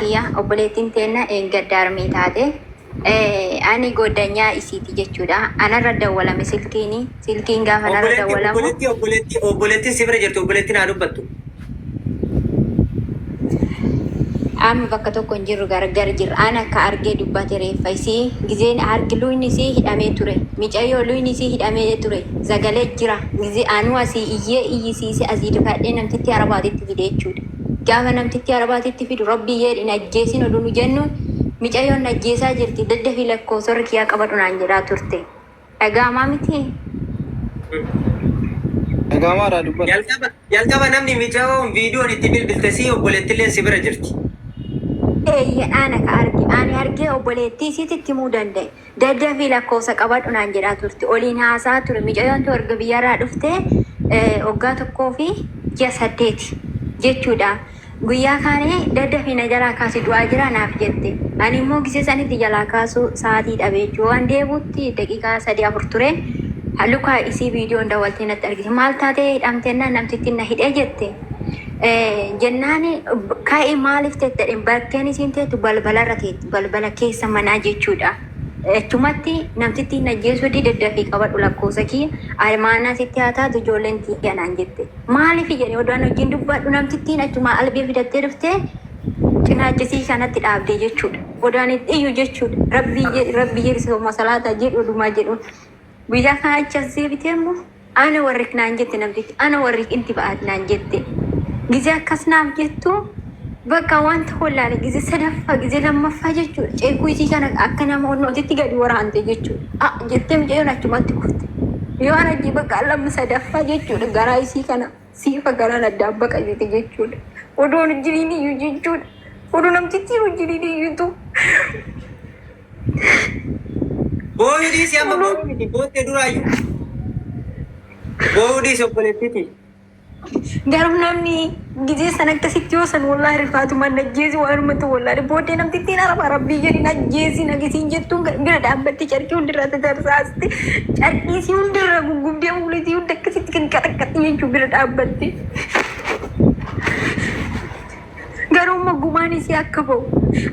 kiyya obboleettiin teenna eeggadda armii taate ani goddanyaa isiiti jechuudha anarra dawwalame silkiini silkiin gaafa narra Obboleetti, dawwalamu obboleetti, obboleetti, obboleettiin si bira jirti, obboleettiin haa dubbattu. amma bakka tokko hin jirru gargar jirra an akka argee dubbate reeffa isii gizeen harki luyni isii hidhamee ture micayyoo luyni isii hidhamee ture zagalee jira gizee anuu asii iyyee iyyisiise asii difadhee namtitti arabaatitti fide jechuudha Gaafa namtittii arabaa sitti fidu rabbii jeedhi hin ajjeesin oduu nu jennu micayoon na ajjeesaa jirti daddafi lakkoofsarra kiyaa qabadhu naan jedhaa turte dhaga'amaa mitii? Dhaga'amaa irraa dubbadhu. Jalqaba jalqaba namni micayoon viidiyoon itti bilbilte sii obboleettilleen si bira jirti. Eeyyeen ana ka arge. Ani argee obboleettii isiitti itti himuu danda'e. Daddafii lakkoofsa qabadhu naan jedhaa turte. Oliin haasa'aa ture. Micayoon too erga biyyarraa dhufte waggaa tokkoo fi ji'a saddeeti jechuudha. Guyyaa kaane daddafii na jalaa kaasi du'aa jira naaf jette. Ani immoo gisee sanitti jalaa kaasuu sa'aatii dhabe jechuudha. Waan deebuutti daqiiqaa sadii afur ture. Luka isii viidiyoon dawwaltee natti argite. Maal taatee hidhamte jennaan namtittiin na hidhee jette. Jennaan ka'i maaliif teettedhe bakkeen isiin teettu balbalarra teetti. Balbala keessa manaa jechuudha. Achumatti namtittiin ajjeesuu dide dafii qabadhu lakkoofsa kiyya Almaanaa sitti haa taatu ijoolleen tiyya naan jette. Maaliif jedhe odoo an wajjin dubbadhu namtittiin achumaa albee fidattee dhuftee cinaacha isii kanatti dhaabde jechuudha. Odoo an itti iyyu jechuudha. Rabbii jedhi rabbii jedhi sooma salaataa jedhi odumaa jedhuun. Guyyaa kaan achi as deebitee immoo ana warrik naan jette namtichi ana warrik inti ba'aat naan jette. Gizee akkas naaf jettu bakka wanta hollaale gizee sadaffaa gizee lammaffaa jechuudha. Ceekuu isii kana akka nama onnootitti gadi waraante jechuudha. A jettee mucayyoon achumatti kufte. Yoo ana jee bakka lamma sadaffaa jechuudha garaa isii kana. Siifa garaan addaan baqatite jechuudha. Odoo hin jiriin iyyuu jechuudha. Odoo namtittiin hin jiriin iyyuu tu. Booyuu dhiisi amma booyuu miti boottee duraayyu. Booyuu dhiisi obboleettii ti. Garuu namni gizee san akkasitti yoo san wallaahi rifaatumaan na ajjeesi waanuma ta'u wallaahi. Booddee namtittiin araba rabbii jedhin ajjeesi nagisiin jettuun bira dhaabbatte carqii hundirraa tatarsaas. Carqii isii hunda irraa guggubdee fuula isii hunda akkasitti qinqaxaqqaxii jechuu bira dhaabbatte. Garuu immoo gumaan isii akka ba'u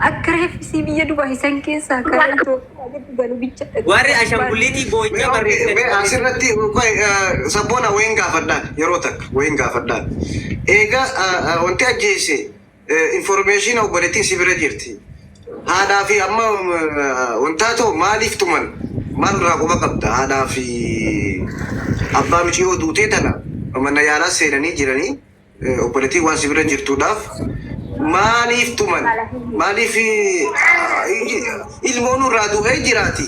akka reeffi isii biyya Dubaay san keessaa karaa Itoophiyaa gadi galu bicha dhaggeeffachuu Warri barbaadde. ashanguliitii Mee boo'icha okay, barreessan. mee asirratti qoy, eh, sabboona wayin gaafadhaan yeroo takka wayin gaafadhaan eega eh, eh, wanti ajjeese Information obboleettiin si bira jirti. Haadhaa fi amma wantaa too maaliif tuman? Maal irraa quba qabda? Haadhaa fi abbaa miciyoo duutee tana mana yaalaa seenanii jiranii obboleettiin waan si bira jirtuudhaaf maaliif tuman? Maaliif ilmoonu irraa du'ee jiraati?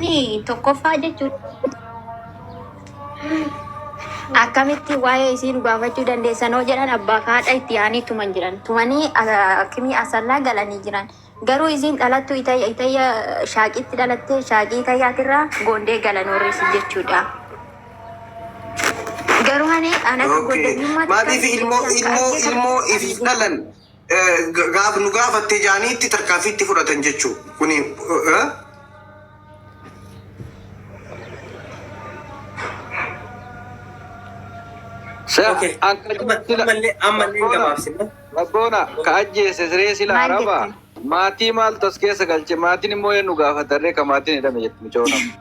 Ni tokkoffaa jechuun akkamitti waa'ee isii dhugaafachuu dandeessan hoo jedhan abbaa fi haadha itti yaanii tuman jiran. Tumanii ah, akimii asallaa galanii jiran. Garuu isiin dhalattu itayya itayya shaaqiitti dhalattee shaaqii itayyaatirraa goondee galan warri isii jechuudha. Garuu ani an akka Okay. goondanyummaatti Maatiif kan ilmoo keessaan ilmoo qaqqee ilmoo kan ifiif dhalan gaaf nu gaafattee jaaniitti tarkaanfii itti fudhatan jechuu kuni Rabboona ka ajjeese siree sila araba maatii maaltu as keessa galche maatiin immoo eenyu gaafatarree ka maatiin hidhame jettu micoona.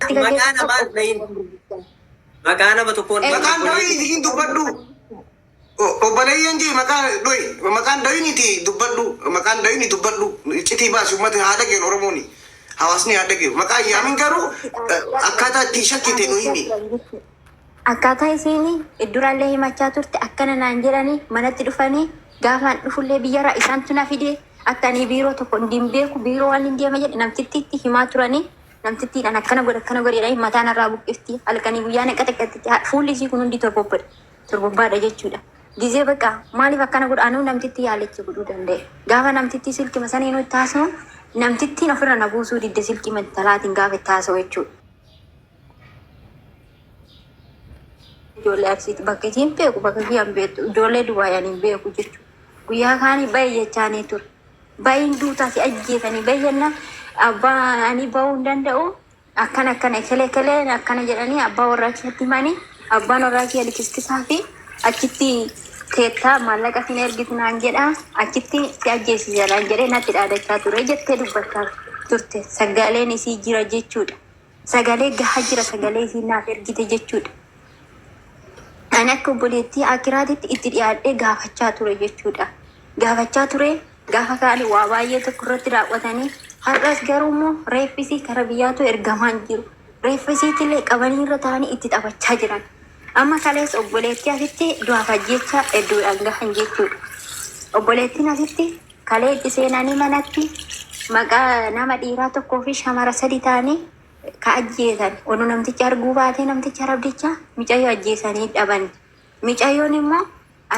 Maqaa namaa hin dhahin. Maqaa nama tokkoon Maqaan dhahin isiin dubbadhu. O- Obboleeyyan jee maqaa dhohi. Maqaan dhahiniti dubbadhu. Maqaan dhahini dubbadhu. Iccitii baasi uummata haa dhageen Oromooni. Hawaasni haa dhageen. Maqaa hin yaamin garuu eh, akkaataa ittiin shakkite nu himi. Akkaataa isiin durallee himachaa turte akkana naan jedhanii manatti dhufanii gaafaan dhufullee biyyarraa isaantu na fide akka ani biiroo tokko hin beeku biiroo waan hin deema jedhe namtittiitti himaa turanii namtittiin an akkana godhe akkana godhe jedhanii mataa narraa buqqifti halkanii guyyaa na qaxaqaxxiti Ha- fuulli isii kun hundi torbobbadha torbobbaadha jechuudha gizee baqa maaliif akkana godha anuu namtitti yaalicha godhuu danda'e gaafa namtittii silki masanii nutti haasa'u namtittiin ofirra na buusuu didde silkii mantalaatiin gaafa itti haasa'u jechuudha. Ijoollee aksiitti bakka isii hin beeku bakka kiyya hin beektu ijoollee Dubaay ani hin beeku jechuudha. Guyyaa kaanii baay'ee jechaanii ture. Baay'een duutaa si ajjeesanii baay'een abbaa ani ba'uu hin danda'u akkan akkana ekele ekelee akkana jedhanii abbaa warraa kiyyaatti himanii abbaan warraa kiyya likiskisaa fi achitti teettaa maallaqa sin ergitu naan jedha achitti si ajjeesisa naan jedhee natti dhaadachaa ture jettee dubbachaa turte sagaleen isii jira jechuudha. Sagalee gaha jira sagalee isiin naaf ergite jechuudha. Ani akka obboleettii akiraatitti itti dhiyaadhee gaafachaa ture jechuudha. Gaafachaa ture gaafa kaani waa baay'ee tokko irratti raawwatanii har'as garuu immoo reeffisii kara biyyaatu ergamaan jiru. Reeffisiitillee qabanii irra taa'anii itti taphachaa jiran. Amma kalees obboleettii asitti du'aaf ajjeechaa hedduudhaan gahan jechuudha. Obboleettiin asitti kalee itti seenanii manatti maqaa nama dhiiraa tokkoo fi shamara sadi ta'anii ka ajjeesan oduu namtichi arguu baatee namticha rabdicha micayyoo ajjeesanii dhaban. Micayyoon immoo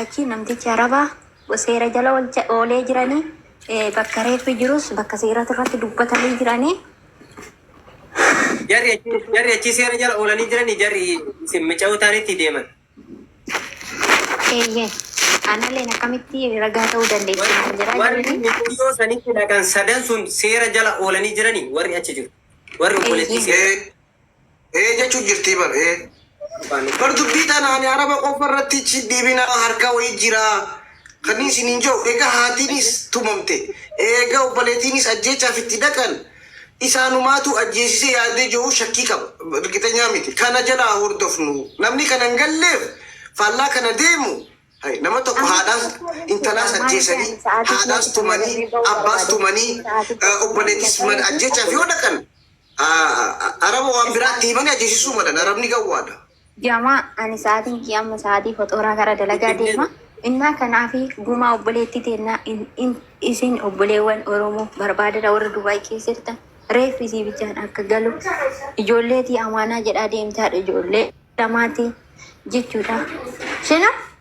Achi namtichi araba seera jala olcha oolee jirani bakka reeffi jirus bakka seeratu irratti dubbatanii jirani. Jarri achi jarri achi seera jala oolanii jiranii jarri isin mica'uu taanitti deeman. Eeyyee analleen akkamitti ragaa ta'uu dandeessi Warri naan jedhaa warri jiranii. mica'oo sanitti dhaqan sadan sun seera jala oolanii jiranii warri achi jiru. Warri obboleettii Eeyyee. seera. Ee jechu jirtii bar ee. Bar dubbii tana ani araba qofa irratti ichi deebina harka wayii jira kanin isinin jedhu ega haatiinis tumamte eega obbaleetiinis ajjeechaaf itti dhaqan isaanumaatu ajjeesise yaadee jedhu shakkii qaba irgixenyaa miti kana jala haa hordofnu namni kana hin galleef faallaa kana deemu hay nama tokko haadhaas intalaas ajjeesanii haadhaas tumanii abbaas tumanii obbaleetis mana ajjeechaaf yoo dhaqan Araba waan biraatti himani ajjeesisuu malan arabni gawwaadha. Jamaa ani sa'aatiin kiyya amma sa'aatii foxooraa gara dalagaa deema. Innaa kanaafi gumaa obboleettii teennaa in- in- isin obboleewwan Oromoo barbaadadha warra Dubaay keessa jirtan reeffi isii bichaan akka galu ijoolleetii amaanaa jedhaa deemtaadha ijoollee lamaati jechuudha. Shina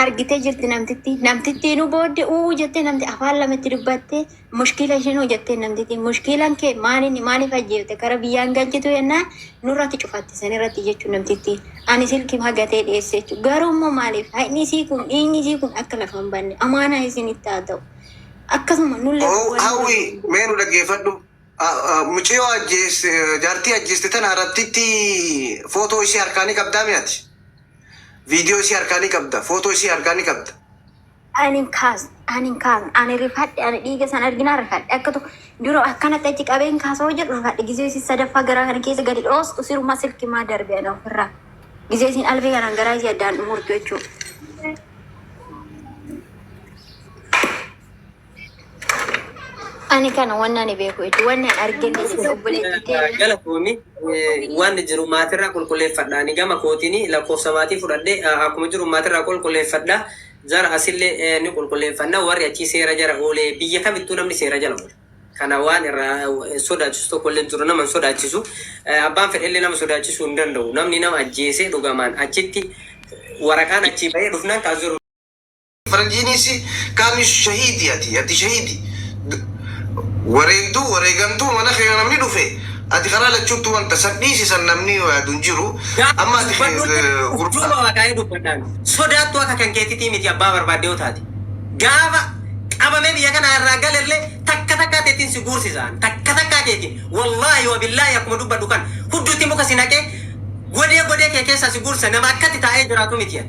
argitee jirti namtitti namtittiinuu boodde uu jettee namti afaan lamatti dubbatte mushkiila ishinuu jettee namtitti mushkiilan kee maaliin maaliif ajjeefte kara biyyaan galchitu yennaan nurratti cufatte san irratti jechuun namtitti ani silki hagatee dhiyeesse jechuudha garuu immoo maaliif haqni isii kun dhiigni isii kun akka lafa hin banne amaanaa isinitti haa ta'u akkasuma nullee Hawwi mee nu dhaggeeffadhu. Muciyoo ajjeeste jaartii ajjeeste tana irrattitti footoo isii harkaa ni qabdaa mi ati? Viidiyoo isii harkaa ni qabda, footoo isii harkaa ni qabda. Ani hin kaasne, ani hin kaasne, ani rifadhe, ani dhiiga san arginaan rifadhe. Akka tokko dura akkanatti achi qabee hin kaasa hojjedhu rifadhe. Gizee isin sadaffaa garaa kana keessa gadi dhoostu sirumaa silki maa darbe ana ofirraa. Gizee isin alfee kanaan garaa isii addaan dhumurtu jechuudha. Ani kana waan ani beeku jechuudha. Waan ani argine jechuudha obboleetti ta'e. Galatoomi waan jiru maatirraa qulqulleeffadha. Ani gama kootiin lakkoofsa maatii fudhadhe akkuma jiru maatirraa qulqulleeffadha. Jara asillee ni qulqulleeffanna. Warri achii seera jara oolee biyya kamittuu namni seera jala oola. Kana waan irraa sodaachisu tokkollee jiru nama hin sodaachisu. Abbaan fedhellee nama sodaachisuu hin danda'u. Namni nama ajjeesee dhugamaan achitti waraqaan achii bahee dhufnaan kaas jiru. Faranjiinisi kaami shahiidi ati ati shahiidi D wareegduu wareegamtuu mana keena namni dhufe ati karaa lachuuttu wanta san dhiisi san namni yaadu hin jiru Gaafii amma ati dubbadhu illee gurbaa. urjuuma waaqaa'ee dubbadhaa miti sodaattuu akka kan keetitii miti abbaa barbaadde yoo taate gaafa qabamee biyya kanaa irraa gale illee takka takkaa teetiin si guursisa an takka takkaa teetiin wallaahi wa billaahi akkuma dubbadhu kana hudduutti muka si naqee godee godee kee keessaa si guursisa nama akkatti taa'ee jiraatu miti an.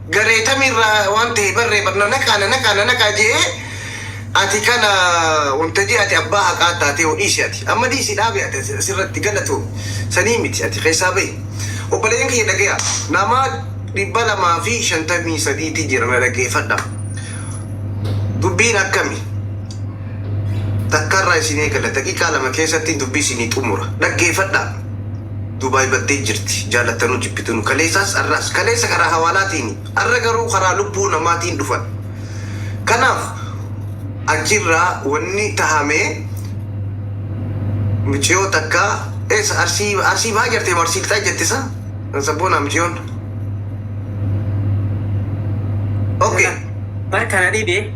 garee tami irraa waan ta'e barree bar na naqaa na naqaa na naqaa je'ee ati kana wantajii ati abbaa haqaa taatee ho dhiisi ati amma dhiisi dhaabi ati asirratti galatoomi sanii miti ati keessaa bahi obboleeyyan kiyya dhagayaa nama 253 ti jira na dhageefadha dubbiin akkami takkarraa isin eegala daqiiqaa lama keessatti dubbii isinii xumura dhaggeefadha. Dubai baddee jirti jaalattanuu jibbitunu kaleesaas arraas kaleessa karaa hawaalaatiini arra garuu karaa lubbuu namaatiin dhufan kanaaf achirraa wanni tahame miciyoo takka eessa arsii arsii bahaa jartee moo arsii lixaa jette sa sabboonaa miciyoon ok. Bar kana dhibe.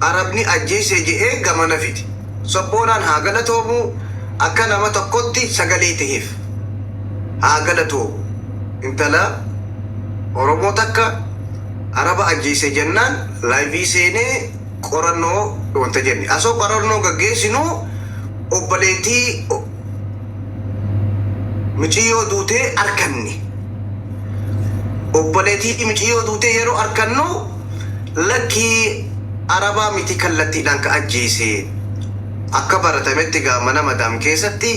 Arabni ajjeese je'ee gamana fide. Sobboonaan haa galatoomuu akka nama tokkotti sagalee taheef. Haa galatoomu. Intala Oromoo takka Araba ajjeese jennaan live seenee qorannoo wanta jenne. Asoo qorannoo gaggeessinu obboleettii miciyyoo duutee arkanne. Obboleettii miciyyoo duutee yeroo arkannu. Lakkii arabaa miti kallattiidhaan ka ajjeese akka baratametti gaa mana madaam keessatti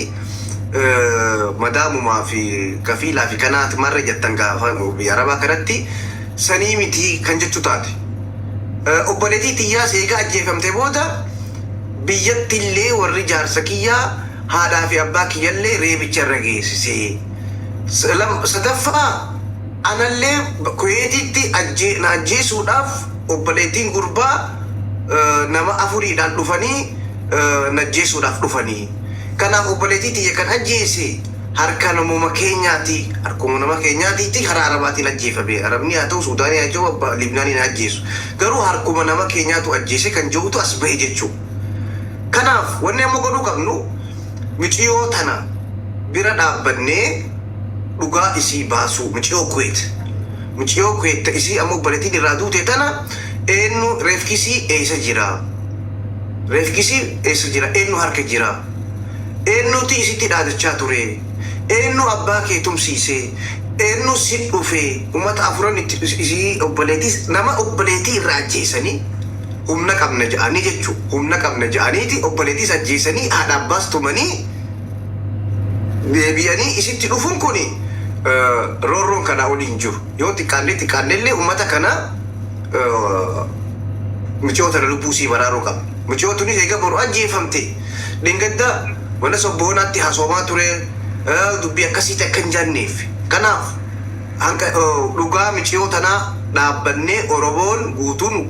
madaamumaa fi kafiilaa fi kanaati marre jettan gaa biyya arabaa kanatti sanii miti kan jechu taate obboleetii tiyyaa seegaa ajjeefamte booda biyyatti illee warri jaarsa kiyyaa haadhaa fi abbaa kiyyallee reebicha irra geessisee sadaffaa Anallee Kuweetiitti na ajjeesuudhaaf obboleettiin gurbaa nama afuriidhaan dhufanii na ajjeesuudhaaf dhufani. Kanaaf obboleettii tiyya kan ajjeese harka namuma keenyaati, harkuma nama keenyaatiiti, karaa Arabaatiin ajjeefame. Arabni haa ta'u, Suudaanii haa ta'u, abbaa Libnaaniin haa ajjeesu. Garuu harkuma nama keenyaatu ajjeese kan je'utu as bahe jechu'u. Kanaaf wanni amma godhuu qabnu miciyoo tana bira dhaabbannee. dhugaa isii baasuu miciyoo kuwait miciyoo kuwait ta isii amma obboletiin irraa duute tana eennu reefkisii eessa jira reefkisii eessa jira eennu harka jira eennuuti isitti dhaadachaa ture eennu abbaa kee tumsiise eennu si dhufe umata afuran itti isii obboleetiis nama obboleetii irra ajjeesanii humna qabna ja'anii jechuu humna qabna ja'aniiti obboleetiis ajjeesanii haadha abbaas tumanii deebi'anii isitti dhufun kun roorroon kanaa olii hin jiru. Yoo xiqqaannee xiqqaannee illee uummata kana mucoo tana lubbuu isii baraaruu qabna. Mucoo tunis eega boru ajjeefamte dhengadda mana sobbohonaatti hasoomaa ture dubbii akkasiitti akka hin janneef. Kanaaf hanga dhugaa miciyoo tanaa dhaabbannee Oromoon guutuun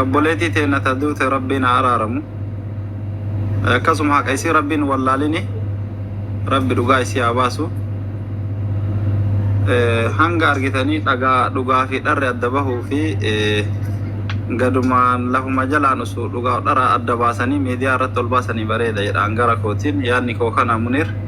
obboleetii teenna ta duute rabbiin haa araaramu akkasuma haqa isii rabbiin wallaalini rabbi dhugaa isii haa baasu Eh, hanga argitanii dhagaa dhugaa fi dharri adda bahuu fi eh, gadumaan lafuma jalaan osoo dhugaa dhara adda baasanii miidiyaa irratti ol baasanii bareeda jedha hangara kootiin yaadni koo kana munir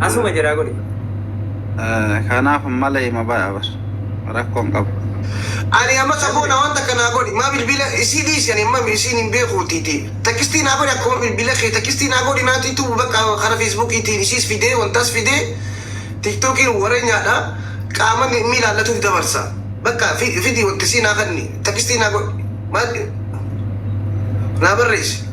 Asuma jiraa godhi. Kanaaf mala hima baya bar. Rakkoon qabu. Ani amma saboo na wanta kana godhi maa bilbila isii dhiisi ani amma isiin hin beekuutiiti takistii naa godhi akkuma bilbila kee takistii naa godhi naati tubu bakka kara feesbuukiitiin isiis fidee wantaas fidee tiktookiin warenyaadha qaama ni mi ilaallatuuf dabarsa bakka fi fidi wanti isii naa kanni takistii naa godhi maa naa barreessi.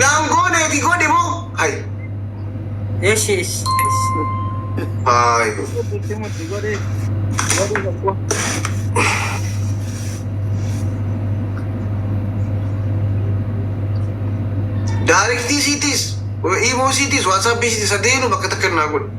Naan gooneeti godhi moo? Hay. Eshi eshi. Hay. Mutti mutti godhi. Godhi tokko. Daariktii siitis, imoo siitis, waatsaappii siitis adeenu bakka takka naa godhi.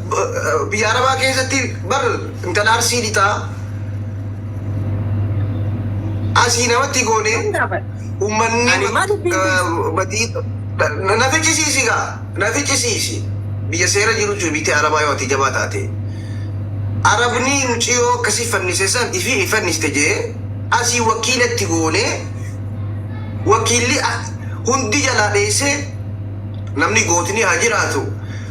Biyya Arabaa keessatti bar intala Arsii dhitaa asii namatti goone uummanni badii na ficcisiisi gaa na ficcisiisi biyya seera jiru jiru biyya Arabaa yoo ati jabaa taate Arabni muciyoo akkasii fannise san ifi ni fanniste jee asii wakiilatti goone wakiilli hundi jalaa dheessee namni gootni haa jiraatu.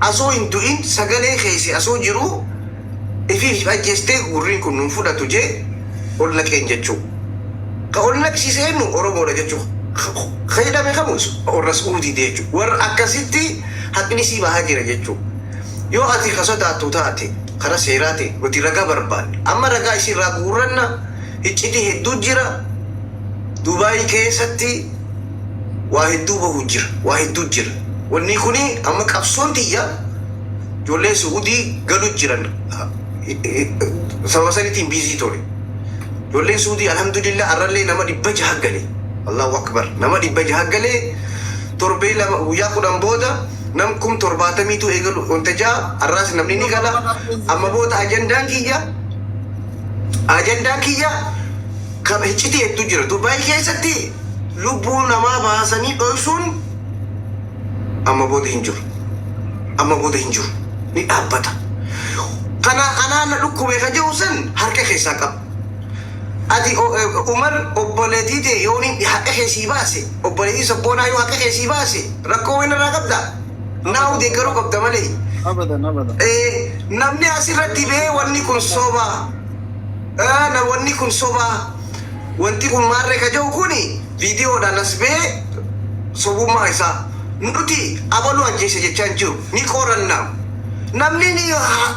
Asuu hin du'in sagalee keesi asuu jiruu ifii if ajjestee gurriin kun nun fudhatu jee ol naqeen jechuu ka ol naqsiise ennu oromoodha jechu ka hidhame kamu warra su'uudiiti jechu warra akkasitti haqni sii bahaa jira jechu yoo ati ka sodaattu taate kara seeraatiin nuti ragaa barbaanna amma ragaa isii irraa guurranna hiccitii hedduu jira dubai keessatti waa hedduu bahu jira waa hedduu jira wannii kuni amma qabsoon tiyya ijoolleen su'udii galu jiran sababa sanitiin biizii tole ijoolleen su'udii alhamdulillah arrallee nama dhibba jaha gale allahu akbar nama dhibba jaha gale torbee lama guyyaa kudhan booda nam kum torbaatamiitu eegalu wanta jaha arraas namni ni gala amma booda ajandaan kiyya ajandaan kiyya Kab iccitii hedduu jira. Dubai keessatti lubbuu namaa baasanii dhoksuun amma booda hin jiru. Amma booda hin jiru. Ni dhaabbata. Kana anaa na dhukkube ka jedhu san harka keessaa qaba. Ati o- e, Umar obboleetii tee yoo ni haqa kee sii baase, obboleetii sabboonaa yoo haqa kee sii baase, rakkoo wayii narraa qabda? Naa Abadan, deeggaruu abadan. qabda malee. Abadan, abadan. Eh, namni asirratti bee wanni kun soba. Aana wonni kun sobaa wanti kun maarre ka je'u kun viidiyoodhaan as bahe sobummaa isaa nuti abalu ajjeese jechaa hin jiru ni qoranna namni ni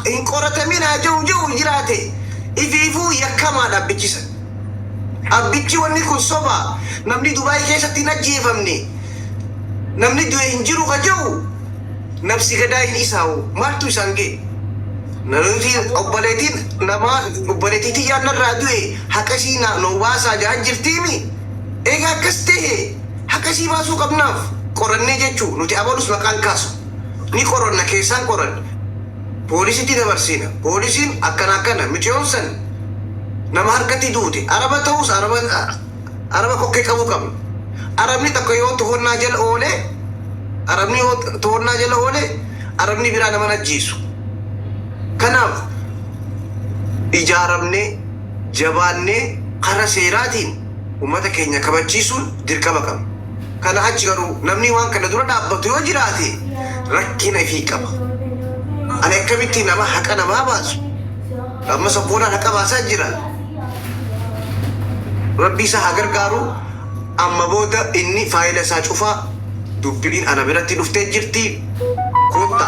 hin qoratamin haa je'u je'u jiraate ifiifuu yakkamaadha abbichi san abbichi wanni kun sobaa namni dubaay keessatti hin ajjeefamne namni du'e hin jiru ka je'u nabsi gadaayin isaa hoo maaltu isaan gahe? Namichi obboleetiin namaa obboleetii tiyyaan narraa du'e haqa isii naa nuu baasaa jahan jirtiimi? Eega akkas tahe haqa isii baasuu qabnaaf qorannee jechuu nuti abalus maqaan kaasu ni qoranna keessaan qoranne poolisitti dabarsiina poolisiin akkana akkana miciyoon san nama harkatti duute araba tahus araba araba kokkee qabuu qabna. Arabni tokko yoo tohonnaa jala oole, arabni yoo tohonnaa jala oole, arabni biraa nama ajjeesu. Kanaaf ijaaramnee jabaannee kara seeraatiin uummata keenya kabachiisuun dirqama qabna. Kana achi garuu namni waan kana dura dhaabbatu yoo jiraate rakkina ifii qaba. Ani akkamitti nama haqa namaa baasu? Amma sabboonaan haqa baasaa jira. Rabbi isa haa gargaaru amma booda inni faayila isaa cufa dubbiin ana biratti dhuftee jirti kotta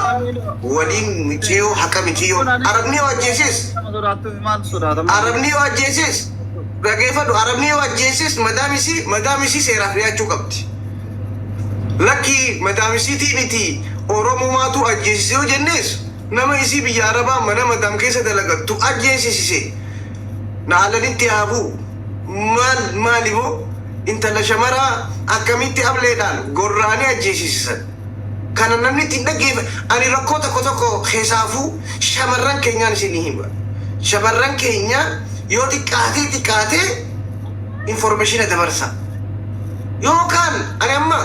waliin miciyo haqa miciyo arabni yoo ajjeesees arabni yoo ajjeesees dhageefadhu arabni yoo ajjeesees madaam isii madaam isii seeraaf dhiyaachuu qabdi lakkii madaam isiitii miti oromumaatu ajjeesise yoo jennees nama isii biyya arabaa mana madam keessa dalagattu ajjeesisise na alanitti haa bu'u maal maali moo intala shamaraa akkamitti ableedhaan gorraanii ajjeesisisan kana namni itti hin dhaggeefa ani rakkoo tokko tokko kesaafuu shamarran keenyaan isinii hima shamarran keenya yoo xiqqaatee xiqqaatee informeeshina dabarsa yookaan ani amma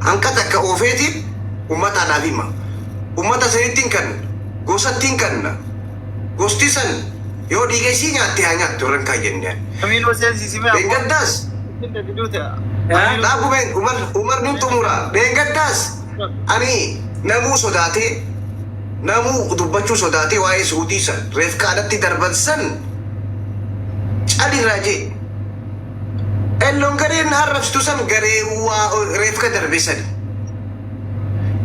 Hanqa takka oofeetiin ummataa naaf hima. Ummata sanittin kanna. Gosattin kanna. Gosti san yoo dhiiga isii nyaatte haa nyaattu irra hin kaayyanne ani. Kamiiloo seensisi mee abboo. Dheengaddaas. Ittin dafiduu te. Dhaabu mee Umar Umar nin xumura. Dheengaddaas ani namuu sodaatee namuu dubbachuu sodaatee waa'ee su'udii san reefkaa natti darban san cal irraa jee. Elloon gareen arrabsitu san garee waa reefka darbe sani.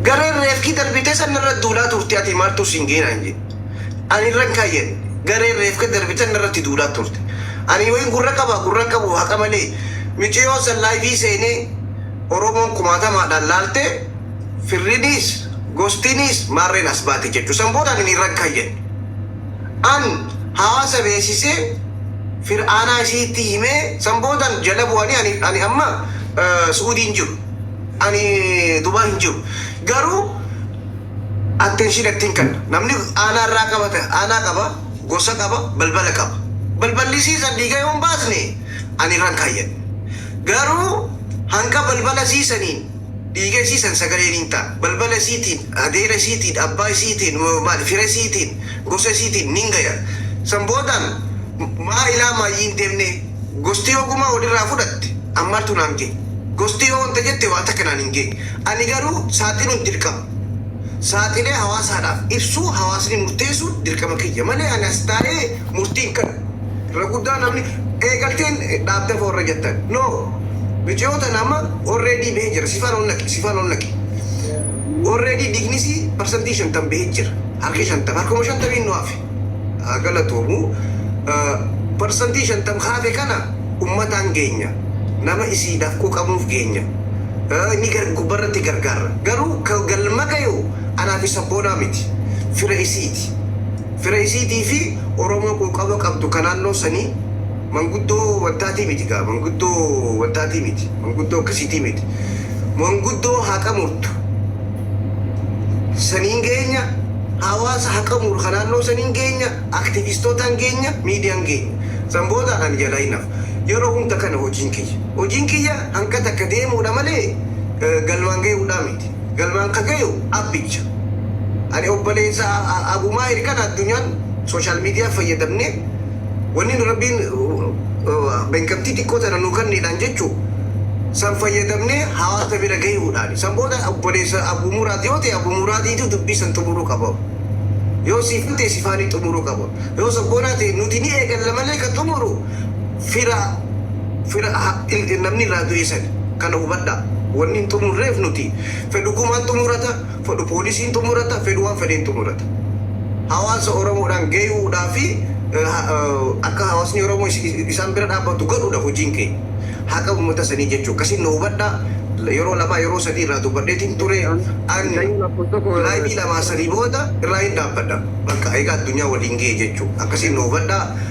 Gareen reefki darbite san narra duulaa turte ati maaltu siin ga'e naan jedhe. Ani irran kaayyan gareen reefka darbitan narratti duulaa turte. Ani wayin gurra qaba gurra hin qabu haqa malee miciyoon san laayivii seenee Oromoon kumaatamaadhaan laalte firriniis gostiiniis maarreen as baate jechu san booda ani irran kaayyan. An hawaasa beesisee fir'aanaa isiitti himee san boodan jala bu'anii ani ani amma su'uudii hin jiru ani dubaay hin jiru garuu attention ittin kanna namni aanaa irraa qaba ta aanaa qaba gosa qaba balbala qaba balballi isii san dhiiga yoo hin baasne ani irra hin kaayyadhu garuu hanga balbala isii saniin dhiiga isii san sagalee niin ta'a, balbala isiitiin, adeera isiitiin, abbaa isiitiin, maal fira isiitiin, gosa isiitiin niin gaya. San booda maa ilaa maayyi hin deemnee? Gosti yoo gumaa wol irraa fudhatte an maaltu naan gaye? Gosti yoo wanta jette waa takka naan hin gaye. Ani garuu saaxiluun dirqama. Saaxilee hawaasaadhaaf ibsuu, hawaasni murteessuun dirqama kiyya malee ani as taa'ee murtii hin kannu. Irra guddaa namni eegalteen dhaabde fo warra jettan no miciyoo tana amma already behe jira sifaan ol naqi sifaan ol naqi already dhignisi parsantii shantam behe jira harki shantam harkuma shantamiin nu hafe haa galatoomu parsantii shantam hafe kana ummataan geenya nama isiidhaaf quuqamuuf geenya ni gubbarratti gargaarra garuu ka galma gayu anaa fi sabboonaa miti fira isiiti. fira isiitii fi Oromoo quuqama qabdu ka naannoo sanii, manguddoo wantaatii miti gaa, manguddoo wantaatii miti, manguddoo akkasiitii miti, manguddoo haqa murtu saniin geenya, hawaasa haqa muru ka naannoo saniin geenya, aktiviistootaan geenya, miidiyaan geenya. San booda ani jalaa hin hafa. Yeroo hunda kana hojiin kiyya. Hojiin kiyya hanga takka deemuu dha malee galmaan gayuu dhaa miti. galmaan ka gayu appicha. Ani obboleessa Abumaahir kana addunyaan social media fayyadamne wanni rabbiin beekamtii xiqqoo tana nuu kanneedhaan jechu san fayyadamne hawaasa bira gayuudhaani. San booda obboleessa Abumuraad yoo ta'e Abumuraadiitu dubbii san xumuruu qaba. Yoo siifan ta'e sifaanii xumuruu qaba. Yoo sabboonaa ta'e nuti ni eegalla malee ka xumuru fira fira namni irraa du'ee sani kana hubadhaa wanni hin xumurreef nuti fedhu kumaan xumurata fedhu poolisiin xumurata fedhu waan fedheen xumurata hawaasa oromoodhaan gayuudhaa fi akka hawaasni oromoo isaan bira dhaabbatu godhuudha hojiin keenya haqa ummata sanii jechuu akkasiin na hubadhaa yeroo lamaa yeroo sadii irraa dubbadheetiin ture an laayivii lamaa sanii booda irraa hin dhaabbadha bakka egaa addunyaa waliin ga'e jechuu akkasiin na hubadhaa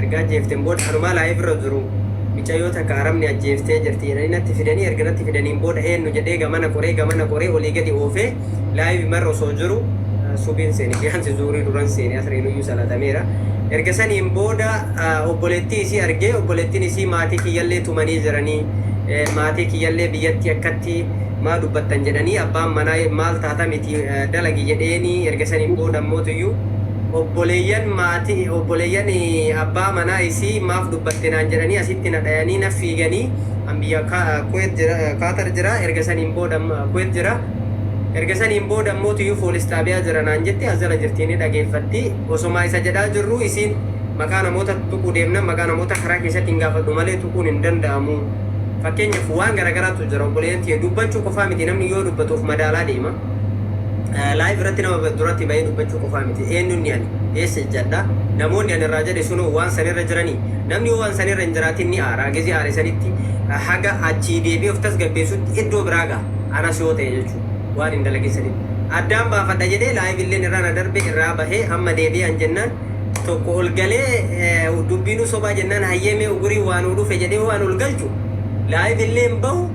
Erga ajjeefteen booda kanumaa live irra jiru micayyoo takka arabni ajjeeftee jirti jedhanii natti fidanii erga natti fidaniin booda eennu jedhee gamana qoree gamana qoree olii gadi oofee live marra osoo jiru subiin seene biyaansi zuurii duran seene asriinuyyuu salatameera erga saniin booda obboleettii isii argee obboleettiin isii maatii kiyyallee tumanii jiranii maatii kiyyallee biyyatti akkatti maa dubbattan jedhanii abbaan manaa maal taata miti dalagi jedheeni erga saniin booda ammootuyyuu obboleeyyan maati obboleeyyan abbaa manaa isii maaf dubbatte naan jedhanii asitti na dhayanii na fiiganii an biyya Ka Kuwait jira Qatar jira erga saniin booda Kuwait jira erga saniin booda immoo tuyuu foolis xaabiyaa jira naan jetti as jala jirti ni dhageeffatti osomaa isa jedhaa jirruu isiin maqaa namoota tuquu deemna maqaa namoota karaa keessatti hin gaafadhu malee tuquun hin danda'amu fakkeenyaaf waan garagaraatu jira obboleeyyan tiyya dubbachuu qofaa miti namni yoo dubbatu of madaalaa deema Live irratti nama duratti bahee dubbachuu qofaa miti. Eenyunni ani eessa ejjadha? Namoonni ani irraa jedhe sunoo waan san irra jiranii? Namni yoo waan san irra hin jiraatin ni aara. Gizii aare sanitti haga achii deebi'ee of tasgabbeessutti iddoo biraa gaha. Anas yoo ta'e jechuudha. Waan hin dalagin sanitti. Addaan baafadha jedhee live illeen irraa na darbe irraa bahee amma deebi'ee an jennaan tokko ol galee dubbiinuu sobaa jennaan hayyee mee ugurii waa nuu dhufe jedhee waan ol galchu live illeen bahu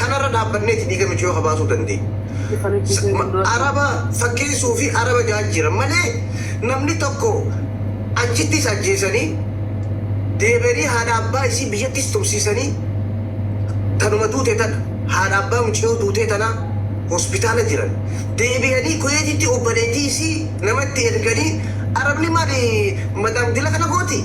Kana irra dhaabbanneeti dhiiga michooka baasuu dandeenya. Araba fakkeessuu fi araba jaajjiran malee namni tokko achittis ajjeesanii deebi'anii haadha abbaa isii biyyattis tursiisanii tanuma duute tana haadha abbaa mucayyoo duutee tanaa hospitaala jiran deebi'anii Kuweetitti obboleettii isii nama itti erganii Arabni maali madaam dila kana gooti?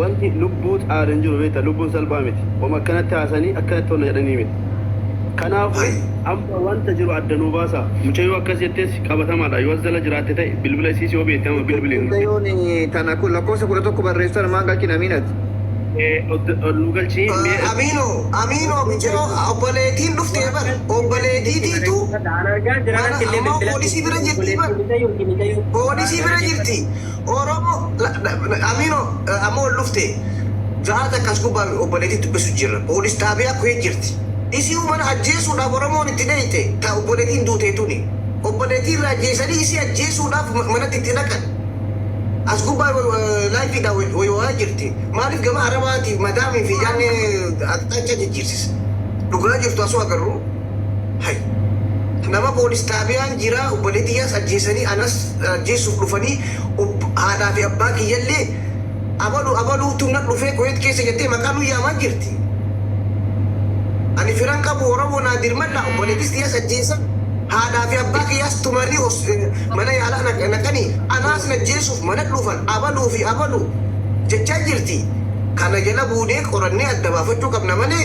Wanti lubbuu caalu hin jiru beekta lubbuun salphaa miti homa akkanatti haasanii akkanatti ol na jedhanii miti kanaafu amma wanta jiru adda nuu baasaa mucayyoo akkas jettees qabatamaadha yoo as jala jiraatte ta'e bilbila isiis yoo beekte amma bilbili nutti. Mucayoon tana lakkoofsa 11 barreessu tana maan galchin Amiin ati. Ee ol nuu galchii mee. Amino amino miciyo oboletiin dhuftee bar oboletii tiitu mana amma polisi bira jirtii bar polisi bira jirtii. Oromo Amino amma ol dhufte Zara takka as gubbaa obboleetii dubbisu jirra police xaabiyaa kuheet jirti isii umana ajjeesuudhaaf Oromoon itti dheeyxe ta obboleetiin duutee tuni obboleetii irraa ajjeesanii isii ajjeesuudhaaf manatti itti dhaqan as gubbaa live dha waywayaa jirti maaliif gama arabaati madaamii fi jaannee aqxaachaa jijjiirsisa dhugaa jirtu asuu agarru Hay. Nama poolis xaabiyaan jira obbolee tiyyaas ajjeesanii anas ajjeessuuf dhufanii ob haadhaa fi abbaa kiyyallee abalu abaluutu na dhufee kuweet keessa jettee maqaa nu yaamaa jirti ani firan qabu oromoo naa dirmadhaa obboleetis tiyyaas ajjeesan haadhaa fi abbaa kiyyaas tumanii hos mana yaalaa na naqanii anaas na ajjeessuuf mana dhufan abaluu fi abalu jechaa jirti kana jala buunee qorannee adda baafachuu qabna malee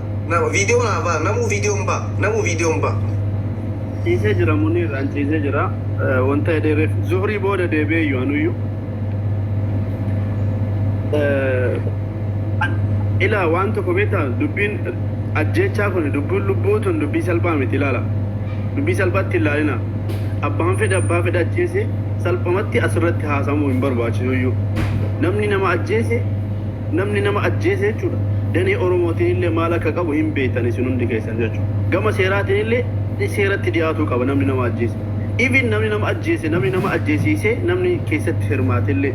Nama video na ba namu video mba namu video mba. Ciisee jira Muniir an ciisee jira Eh, wanta jedhee reef zuhrii booda deebi'ee iyyuu anuyyu Eh, an- ilaa waan tokko beektaa dubbiin ajjeechaa kun dubbiin lubbuu tun dubbii salphaa miti ilaala dubbii salphaatti hin ilaalina abbaan fedhe abbaa fedhe ajjeese salphumatti asirratti haasamuu hin barbaachisu iyyuu namni nama ajjeese Namni nama ajjeese jechuudha. Danee Oromootiin illee maal akka qabu hin beektan isin hundi keessan jechuudha. Gama seeraatiin illee seeratti dhiyaatuu qaba namni nama ajjeese. Even namni nama ajjeese, namni nama ajjeesiisee, namni keessatti hirmaate illee.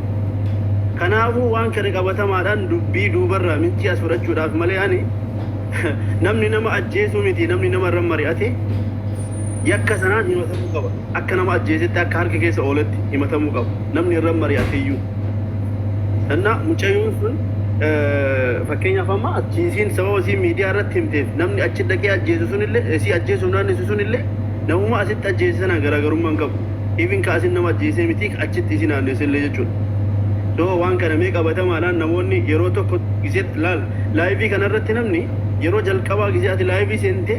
Kanaafuu waan kana qabatamaadhaan dubbii duubarraa miccii as fudhachuudhaaf malee ani namni nama ajjeesuu miti namni nama irra mari'ate yakka sanaan himatamuu qaba. akka nama ajjeesetti akka harka keessa ooletti himatamuu qaba namni irra mari'ateyyuu sanna mucayoon sun fakkeenyaaf amma ajjeesiin sababa isiin miidiyaa irratti himteef namni achi dhaqee ajjeese sunillee isii ajjeesuuf naannessu sunillee namuma asitti ajjeese sanaan garaagarummaa hin qabu even ka asin nama ajjeesee mitii ka achitti isii naannessellee jechuudha so waan kana mee qabatamaadhaan namoonni yeroo tokko gisee laal laayivii kanarratti namni yeroo jalqabaa gisee ati laayivii seentee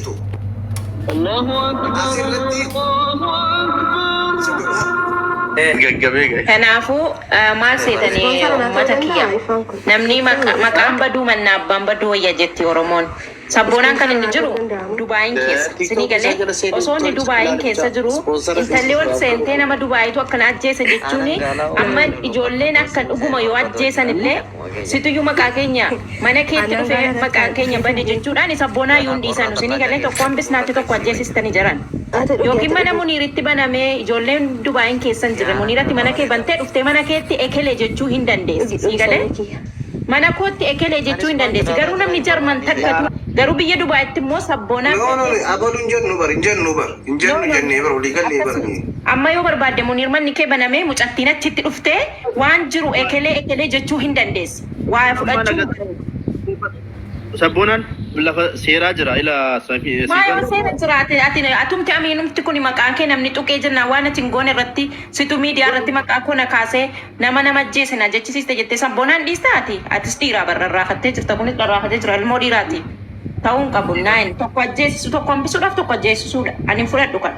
Asirratti gaggabee gahe. Kanaafuu maal seetanii uummata kiyya namni maqa- maqaan baduu mannaa abbaan baduu wayya jetti Oromoon. Sabboonaan kan inni jiru Dubaayiin keessa. Sinii galee osoo inni Dubaayiin keessa jiru intalli ol seentee nama Dubaayitu akkana ajjeese jechuun amma ijoolleen akka dhuguma yoo ajjeesan illee Situyyuu maqaa keenya mana keetti dhufee maqaan keenya bade jechuudhaani sabboonaa yuun dhiisanu sini galee tokko hambisnaatti tokko ajjeesistani jiran yookiin mana muniiritti banamee ijoolleen dubaayin keessa hin jirre muniirati mana kee bantee dhuftee mana keetti ekele jechuu hin dandeessi sii galee mana kootti ekele jechuu hin dandeessi garuu namni jarman takkatuu garuu biyya dubaayitti immoo sabboonaa No no no abalu hin jennu bar hin jennu bar hin jennu jennee bar walii gallee bar akkasuma nuyi. amma yoo barbaadde muniir manni kee banamee mucattiin achitti dhuftee Waan jiru ekelee ekelee jechuu hin dandeessi. Waa fudhachuu. Sabboonaan lafa seeraa jira ila Siifan. Maa yoo seera jiraate ati atumti amiinumti kuni maqaa kee namni xuqee jennaan waan ati hin goone irratti situ miidiyaa irratti maqaa koo na kaasee nama nama ajjeese na jechisiiste jettee sabboonaan dhiista ati? Atis dhiiraa bar rarraafattee jirta kunis rarraafatee jira ilmoo dhiiraati ta'uu hin qabu nine tokko ajjeesisu tokko hambisuudhaaf tokko ajjeesisuudha ani hin fudhadhu kana.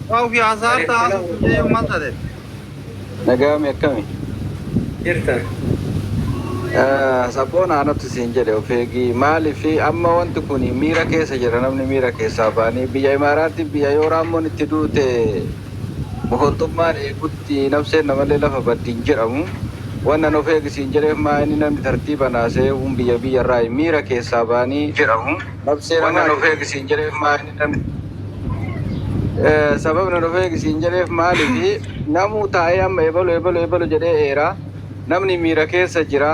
Waa ofii hasaarta haasoftu jeeyu mal tate. Nagaami akkami? Jirta. Sabboon aanatti siin jedhe of eegii maaliif amma wanti kun miira keessa jira namni miira keessaa baanii biyya imaaraatti biyya yoo raammoon itti duute boholtummaan eegutti nabseen namallee lafa baddi hin jedhamu wannan of eegi siin jedheef maa inni namni tartiiba naasee uun biyya biyya irraa miira keessaa baanii jedhamu nabsee namaa of eegi siin jedheef maa Sababni nu dhufee siin jedheef maaliifi namuu taa'ee amma ebalu ebalu ebalu jedhee eera. Namni miira keessa jira.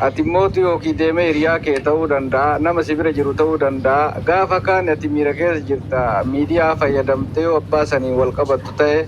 Ati mootu yookiin deemee hiriyaa kee ta'uu danda'a. Nama si bira jiru ta'uu danda'a. Gaafa kaan ati miira keessa jirta. Miidiyaa fayyadamtee yoo abbaa saniin wal qabattu ta'e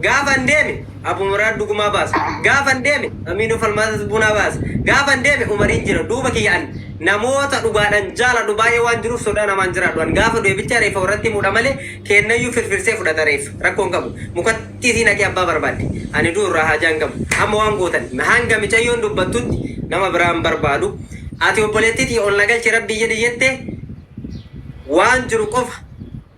Gaafan deeme Abu Muraad Dugumaa baasa. Gaafan deeme Amiinoo Falmaatas Bunaa baasa. Gaafan deeme Umariin jira duuba kiyya an. Namoota dhugaadhan jaaladhu baay'ee waan jiruuf sodaa namaan jiraadhu an. Gaafa du'e bicha reeffa warratti himudha malee keennayyuu firfirsee fudhata reeffa. Rakkoo hin qabu. Mukatti isii naqii abbaa barbaadde. Ani du'u irraa haajaa hin qabu. Amma waan gootan hanga micayyoon dubbattutti nama biraa hin barbaadu. Ati obboleettii tiyya ol na galchi Rabbii jedhi jette waan jiru qofa.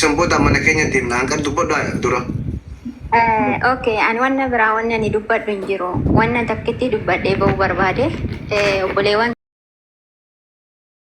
San booda mana keenya deemna. Hanqar dubbadhu dura. Ok, ani wanna biraa wanni ani dubbadhu hin jiru. Wanna takkittii dubbadhee ba'uu barbaade obboleewwan